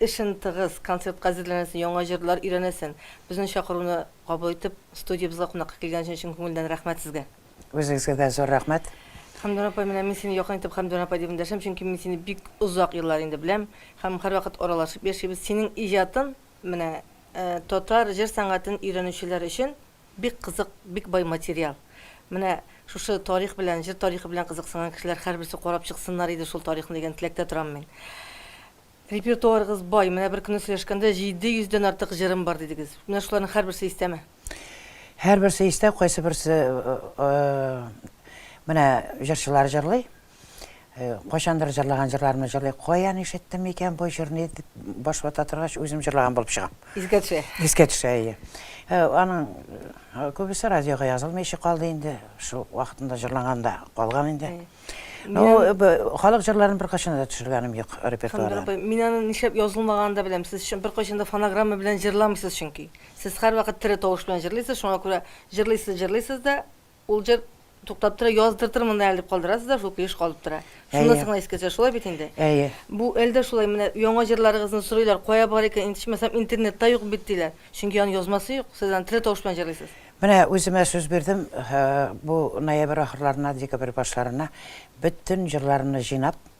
Эшен тыгыз, концертка әзерләнәсен, яңа җырлар өйрәнәсен. Безнең чакыруны кабул итеп, студиябезгә кунакка килгәнең өчен чын күңелдән рәхмәт сезгә! Үзегезгә дә зур рәхмәт! Хәмдүн апай, менә мин сине якын итеп Хәмдүн апай дип эндәшәм, чөнки мин сине бик озак еллар инде беләм һәм һәрвакыт аралашып яшибез. Синең иҗатын менә татар җыр сәнгатен өйрәнүчеләр өчен Бик кызык, бик бай материал. Менә шушы тарих белән, җыр тарихы белән кызыксынган кешеләр һәрберсе карап чыксыннар иде шул тарихны дигән теләктә торам мин. Репертуарыгыз бай, менә бер көнне сөйләшкәндә 700 дән артык җырым бар дидегез. Менә шуларның һәрберсе истәме? Һәрберсе истә, кайсы берсе менә җырчылар җырлый, Кайчандыр җырлаган җырларымны җырлый. Каян ишеттем икән бу җырны дип баш вата торгач, үзем җырлаган булып чыга. Искә төшә. Искә төшә, әйе. Аның күбесе радиога язылмый эче калды инде. Шул вакытында җырланган да калган инде. Халык җырларын беркайчан да төшергәнем юк репертуардан. Шундый, мин аны нишләп язылмаганын да беләм. Сез беркайчан да фонограмма белән җырламыйсыз чөнки. Сез һәрвакыт тере тавыш белән җырлыйсыз, шуңа күрә җырлыйсыз, җырлыйсыз да, Ул җыр туктап тора, яздыртырмын да әле дип калдырасыз да, шул көй еш калып тора. Шунысы гына искә төшә, шулай бит инде? Әйе. Бу әле дә шулай, менә яңа җырларыгызны сорыйлар, кая бар икән, итешмәсәм, интернетта юк бит, диләр. Чөнки аны язмасы юк, сез аны тере тавыш белән җырлыйсыз. Менә үземә сүз бирдем, бу ноябрь ахырларына, декабрь башларына бөтен җырларымны җыйнап,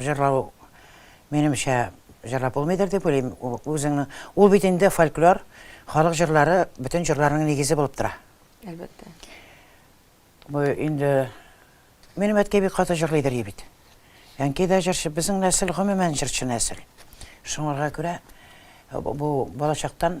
Җырлау, минемчә, җырлап булмыйдыр дип уйлыйм. Үзеңнең ул бит инде фольклор, халык җырлары бөтен җырларның нигезе булып тора. Әлбәттә. Бу инде минем әткәй бик каты җырлый дери бит. Әнкәй дә җырчы, безнең нәсел гомумән җырчы нәсел. Шуңарга күрә бу балачактан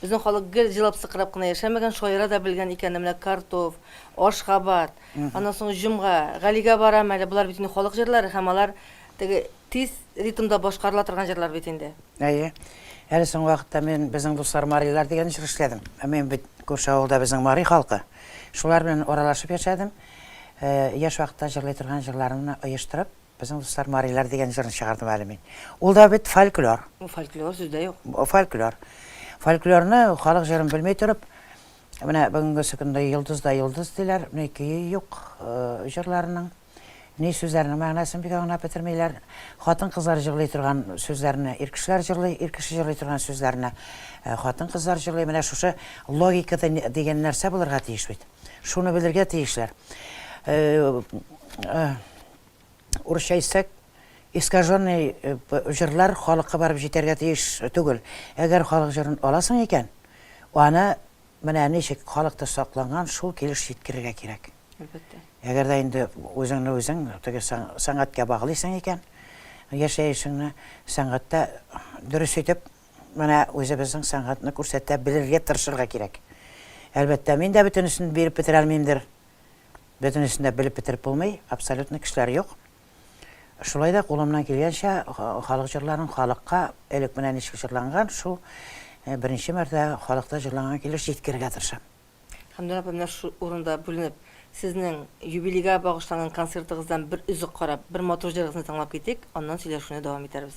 Безнең халык гел җылап-сыкырап кына яшәмәгән, шаяра да белгән икән, менә Картуф, Ашгабад, аннан соң Җомга, Галигә барам әле, болар бит инде халык җырлары һәм алар теге тиз ритмда башкарыла торган җырлар бит инде. Әйе. Әле соңгы вакытта мин Безнең дуслар марилар дигән җыр эшләдем. Мин бит күрше авылда безнең мари халкы. Шулар белән аралашып яшәдем. Яшь вакытта җырлый торган җырларымны оештырып, Безнең дуслар марилар дигән җырны чыгардым әле мин. Ул да бит фольклор. Фольклор сүз дә юк. Фольклор. Фольклорны халык җырын белми торып, менә бүгенгесе көндә йолдыз да йолдыз диләр, ни көе юк җырларының, ни сүзләренең мәгънәсен бик аңлап бетермиләр. Хатын-кызлар җырлый торган сүзләрне ир кешеләр җырлый, ир кеше җырлый торган сүзләрне хатын-кызлар җырлый. Менә шушы логика дигән нәрсә булырга тиеш бит. Шуны белергә тиешләр. урысча әйтсәк, искаженный җырлар халыкка барып җитәргә тиеш түгел. Әгәр халык җырын аласың икән, аны менә ничек халыкта сакланган шул килеш җиткерергә кирәк. Әлбәттә. Әгәр дә инде үзеңне үзең теге сәнгатькә баглыйсың икән, яшәешеңне сәнгатьтә дөрес итеп менә үзебезнең сәнгатьне күрсәтә белергә тырышырга кирәк. Әлбәттә, мин дә бөтенесен биреп бетерә алмыймдыр. Бөтенесен дә белеп бетереп булмый, абсолютно кешеләр юк. Шулай да кулымнан килгәнчә халык җырларын халыкка элек менә ничек җырланган, шул беренче мәртәбә халыкта җырланган килеш җиткерергә тырышам. Хәмдүн апа, менә шул урында бүленеп, сезнең юбилейга багышланган концертыгыздан бер өзек карап, бер матур җырыгызны тыңлап китик, аннан сөйләшүне дәвам итәрбез.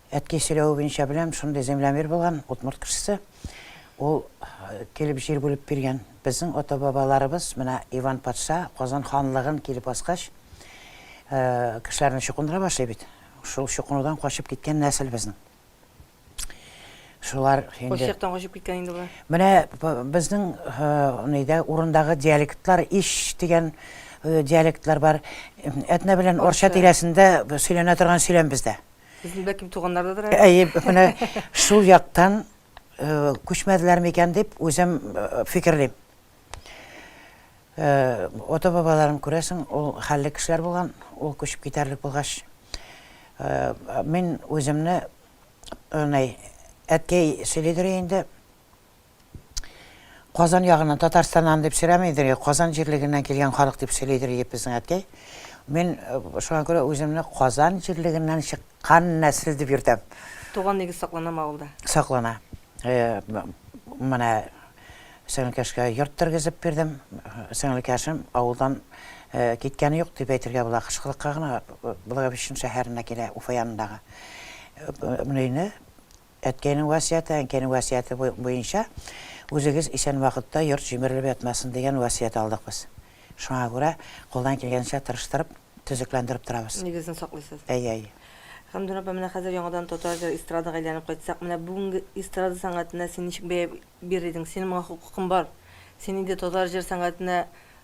Әткәй сөйләве буенча беләм, шундый землямер булган, удмурт кешесе. Ул килеп җир бүлеп биргән. Безнең ата-бабаларыбыз, менә Иван патша Казан ханлыгын килеп аскач, кешеләрне чукындыра башлый бит. Шул чукынудан качып киткән нәсел безнең. Шулар инде. Кайсы яктан качып киткән инде болар? Менә безнең нидә урындагы диалектлар иш дигән диалектлар бар. Әтнә белән Орча тирәсендә сөйләнә торган сөйләм бездә. Сезнең бәлки туганнардадыр әле? Әйе, менә шул яктан күчмәделәр микән дип үзем фикерлим. Ото бабаларым күрәсең, ул хәлле кешеләр булган, ул күчеп китәрлек булгач, мин үземне әткәй сөйлидер инде, Казан ягыннан, Татарстаннан дип сөйләмидер и Казан җирлегеннән килгән халык дип сөйлидер иде безнең әткәй. Мин шуңа күрә үземне Казан җирлегеннән чыккан нәсел дип йөртәм. Туган нигез сакланамы авылда? Саклана. Менә сеңлекәшкә йорт тергезеп бирдем. Сеңлекәшем авылдан киткәне юк дип әйтергә була. Кышкылыкка гына Благовещен шәһәренә килә, Уфа янындагы. Менә өйне. Әткәйнең васыяте, әнкәйнең васыяте буенча үзегез исән вакытта йорт җимерелеп ятмасын дигән васыять алдык без. Шуңа күрә кулдан килгәнчә тырыштырып, төзекләндереп торабыз. Нигезен саклыйсыз. Әйе, әйе. Хәмдүн апа, менә хәзер яңадан татар җыры эстрадага әйләнеп кайтсак, менә бүгенге эстрада сәнгатенә син ничек бәя бирер идең? Синең моңа хокукың бар. Син инде татар җыр сәнгатенә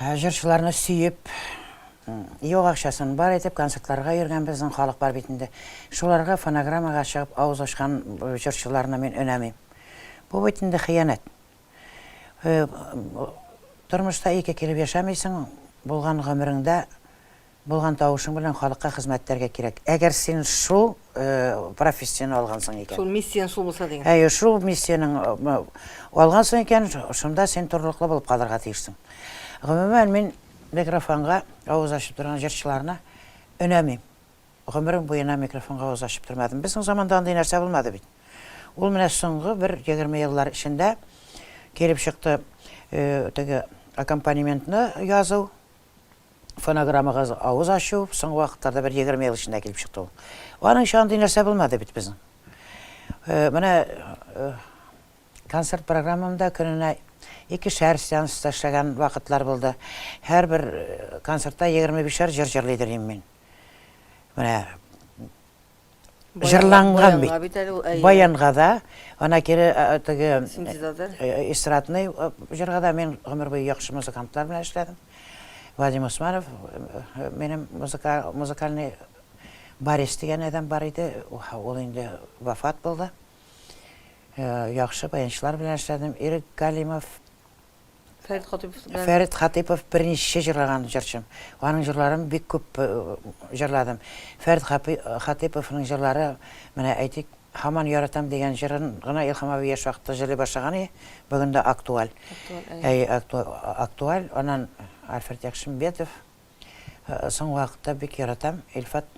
Ә җырчыларны сөеп, юк акчасын бар итеп концертларга йөргән безнең халык бар бит инде. Шуларга фонограммага чыгып авыз ачкан җырчыларны мин өнәмим. Бу бит инде хыянәт. Тормышта ике килеп яшәмисең, булган гомереңдә Булган тавышың белән халыкка хезмәт итәргә кирәк. Әгәр син шул профессияне алгансың икән. Шул миссияне шул булса дигән. Әйе, шул миссияне алгансың икән, шунда син торлыклы булып калырга тиешсең. Гомумән, мин микрофонга авыз ачып торган җырчыларны өнәмим. Гомерем буена микрофонга авыз ачып тормадым. Безнең заманда андый нәрсә булмады бит. Ул менә соңгы бер егерме еллар эчендә килеп чыкты теге аккомпанементны язу. Фонограммага авыз ачу, соңгы вакытларда бер егерме ел эчендә килеп чыкты ул. Аның өчен андый нәрсә булмады бит безнең. Э, менә э, концерт программамда көненә икешәр сеанста эшләгән вакытлар булды. Һәрбер э, концертта егерме бишәр җыр җырлый дөрим мин. Менә Җырланган бит. Баянга да, ана кире теге эстрадный җырга да мин гомер буе яхшы музыкантлар белән эшләдем. Вадим Усманов минем музыкальный Борис дигән адәм бар иде, ул инде вафат булды. Яхшы баянчылар белән эшләдем. Ирек Галимов Фәрит Хатыйпов белән. Фәрит Хатыйпов берничә җырлаган җырчым. Аның җырларын бик күп җырладым. Фәрит Хатыйповның җырлары, менә әйтик, Һаман яратам дигән җырын гына Илһам абый яшь вакытта җырлый башлаган иде, бүген дә актуаль. Әй, актуаль. Аннан Альфред Якшимбетов. Соңгы вакытта бик яратам Илфат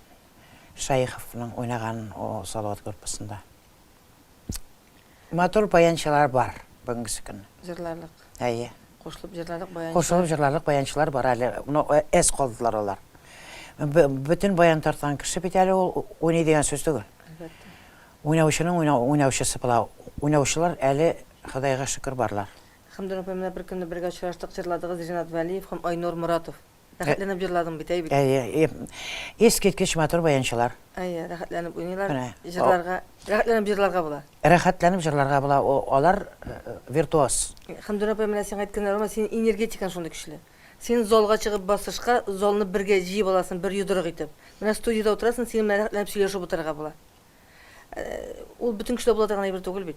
Шәеховның уйнаган Салават группасында. Матур баянчылар бар бүгенгесе көнне. Җырларлык. Әйе. Кушылып җырларлык баянчылар. Кушылып җырларлык баянчылар бар әле. Ну, э, эс калдылар алар. Бөтен баян тарткан кеше бит әле ул уйный дигән сүз түгел. Әлбәттә. Уйнаучының уйнаучысы була. Уйнаучылар әле Ходайга шөкер барлар. Хәмдүр апай, менә бер көнне бергә очраштык, җырладыгыз Ренат Вәлиев һәм Айнур Моратов. Рәхәтләнеп җырладың бит, әй бит. Әйе, и- искиткеч матур баянчылар. Әйе, рәхәтләнеп уйныйлар. Менә. Җырларга, рәхәтләнеп җырларга була. Рәхәтләнеп җырларга була, о, алар э, виртуоз. Хәмдүнә апай, менә сиңа әйткәннәр булма, синең энергетикаң шундый көчле. Син залга чыгып басышка, залны бергә җыеп аласың, бер йодрык итеп. Менә студиядә утырасың, синең белән рәхәтләнеп сөйләшеп утырырга була. Э, Ул бөтен кешедә була торган әйбер түгел бит.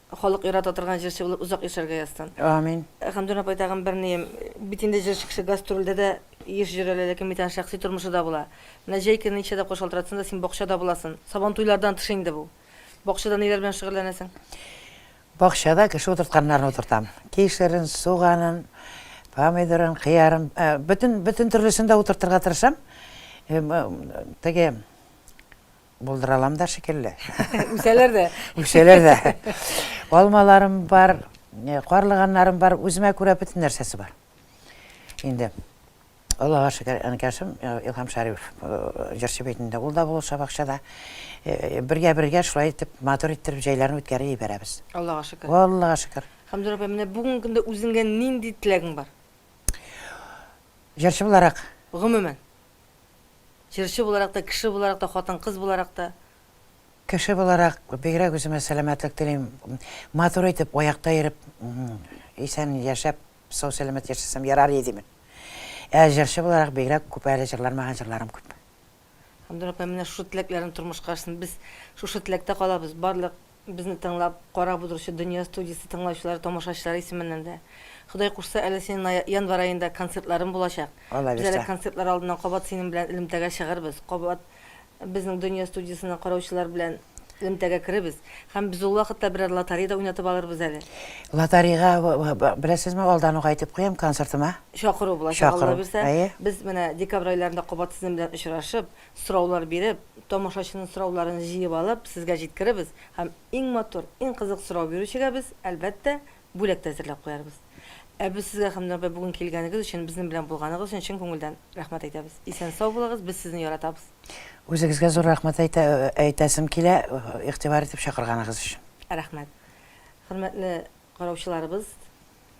Халык ярата торган җырчы булып озак яшәргә язсын. Амин. Хәмдүнә апай тагын бер нием, бит инде җырчы кеше гастрольдә дә еш җыра әле, ләкин бит аның шәхси тормышы да була. Менә җәй көне ничә тапкыр шалтыратсаң да син бакчада буласың. Сабантуйлардан тыш инде бу. Бакчада ниләр белән шөгыльләнәсең? Бакчада кеше утыртканнарын утыртам. Кишерен, суганын, помидорын, кыярын, бөтен төрлесен дә утыртырга тырышам. Теге Булдыра алам да шикелле. Үсәләр дә. Үсәләр дә. Алмаларым бар, э, карлыганнарым бар, үземә күрә бөтен нәрсәсе бар. Инде Аллага шөкер, әнкәшем э, Илһам Шәриф э, җырчы бит инде. Ул да булыша бакчада. Бергә-бергә шулай итеп матур иттереп җәйләрне үткәреп ибәрәбез. Аллага шөкер. Аллага шөкер. Хамзур апа, менә бүгенге көндә үзеңгә нинди теләгең бар? Җырчы буларак. Гомумән. Җырчы буларак та, кеше буларак та, хатын-кыз буларак та. Кеше буларак бигрәк үземә сәламәтлек телим. Матур итеп, аякта йөреп, исән яшәп, сау-сәламәт яшәсәм ярар иде мени. Ә җырчы буларак бигрәк күп әле җырланмаган җырларым күп. Һәм Дора апа менә шушы теләкләрен тормышка ашсын. Без шушы теләктә калабыз. Барлык Безне тыңлап, карап утыручы Дөнья студиясе тыңлаучылары, тамашачылары исеменнән дә. Ходай кушса, әле синең на январь аенда концертларың булачак. Без әле концертлар алдыннан кабат синең белән элемтәгә чыгырбыз, кабат безнең Дөнья студиясенең караучылары белән элемтәгә керебез. Һәм без ул вакытта берәр лотарей да уйнатып алырбыз әле. Лотарейга, беләсезме, алдан ук әйтеп куям, концертыма. Чакыру булачак, Алла бирсә. Без менә декабрь айларында кабат сезнең белән очрашып, Сораулар биреп, тамашачының сорауларын җыеп алып, сезгә җиткерербез һәм иң матур, иң кызык сорау бирүчегә без, әлбәттә, бүләк тә әзерләп куярбыз. Ә без сезгә һәм Нурбай бүген килгәнегез өчен, безнең белән булганыгыз өчен чын күңелдән рәхмәт әйтәбез. Исән-сау булыгыз, без сезне яратабыз! Үзегезгә зур рәхмәт әйтә, әйтәсем килә, игътибар итеп чакырганыгыз өчен. Рәхмәт. Хөрмәтле караучыларыбыз!